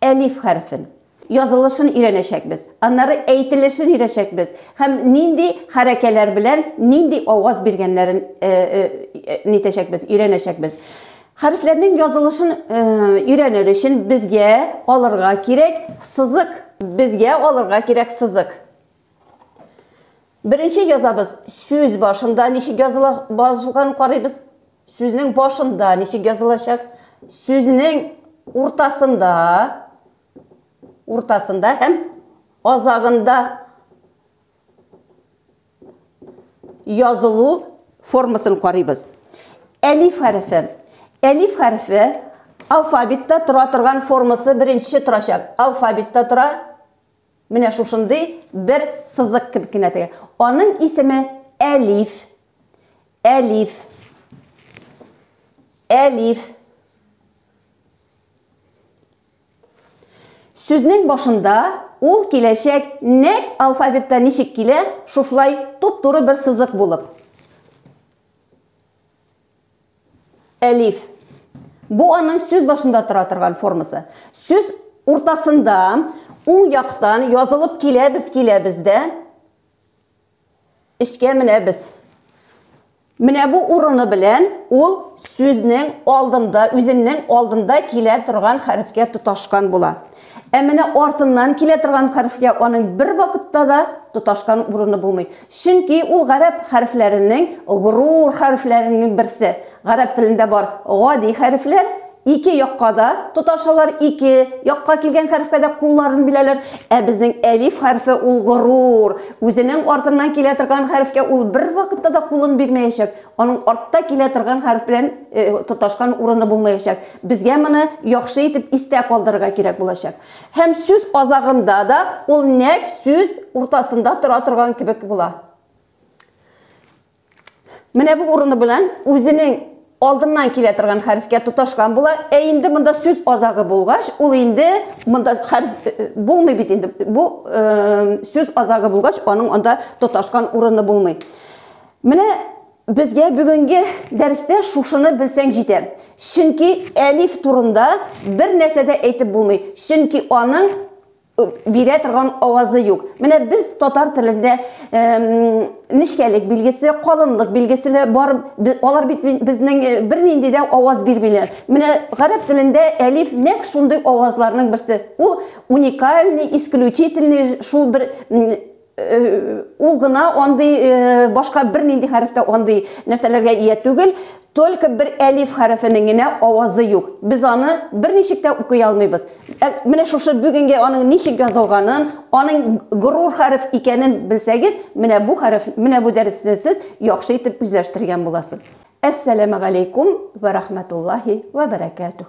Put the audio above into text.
Әлиф хәрефен, язылышын өйрәнәчәкбез, аннары әйтелешен өйрәчәкбез һәм нинди хәрәкәләр белән нинди аваз биргәннәрен нитәчәкбез, өйрәнәчәкбез. Хәрефләрнең язылышын өйрәнер өчен безгә алырга кирәк сызык. Безгә алырга кирәк сызык. Беренче язабыз. Сүз башында ничек языла башлаган карыйбыз. Сүзнең башында ничек язылачак? Сүзнең уртасында уртасында һәм азагында язылу формасын карыйбыз. Әлиф хәрефе. Әлиф хәрефе алфавитта тора торган формасы беренче торачак. Алфавитта тора Менә шушындый бер сызык кебек кенә теге. Аның исеме әлиф. Әлиф. Әлиф. Сүзнең башында ул киләчәк нәк алфавитта ничек килә, шушылай туп-туры бер сызык булып. Әлиф. Бу аның сүз башында тора торган формасы. Сүз уртасында уң яктан язылып киләбез, киләбез дә өскә менәбез. Менә бу урыны белән ул сүзнең алдында, үзеннең алдында килә торган хәрефкә тоташкан була. Ә менә артыннан килә торган хәрефкә аның бер вакытта да тоташкан урыны булмый. Чөнки ул гарәп хәрефләренең горур хәрефләренең берсе. Гарәп телендә бар гади хәрефләр ике якка да тоташалар, ике якка килгән хәрефкә дә кулларын биләләр. Ә безнең әлиф хәрефе ул горур, үзенең артыннан килә торган хәрефкә ул бервакытта да кулын бирмәячәк, аның артта килә торган хәреф белән тоташкан урыны булмаячак. Безгә моны яхшы итеп истә калдырырга кирәк булачак. Һәм сүз азагында да ул нәкъ сүз уртасында тора торган кебек була. Менә бу урыны белән үзенең алдыннан килә торган хәрефкә тоташкан була. Ә инде монда сүз азагы булгач, ул инде монда хәреф э, булмый бит инде. Бу э, сүз азагы булгач, аның анда тоташкан урыны булмый. Менә Безгә бүгенге дәрестә шушыны белсәң җитә. Чөнки әлиф турында бер нәрсә дә әйтеп булмый, чөнки аның бирә торган авазы юк. Менә без татар телендә нечкәлек билгесе, калынлык билгесе бар, алар бит безнең бернинди дә аваз бирмиләр. Менә гарәп телендә әлиф нәк шундый авазларның берсе. Ул уникальный, исключительный шул бер ул гына андый башка бернинди хәрефтә андый нәрсәләргә ия түгел, только бер әлиф хәрефенең генә авазы юк. Без аны берничек тә укый алмыйбыз. Ә менә шушы бүгенге аның ничек язылганын, аның горур хәреф икәнен белсәгез, менә бу хәреф, менә бу дәресне сез яхшы итеп үзләштергән буласыз. Әссәламәгаләйкүм вә рахмәтуллаһи вә бәрәкәтүһ.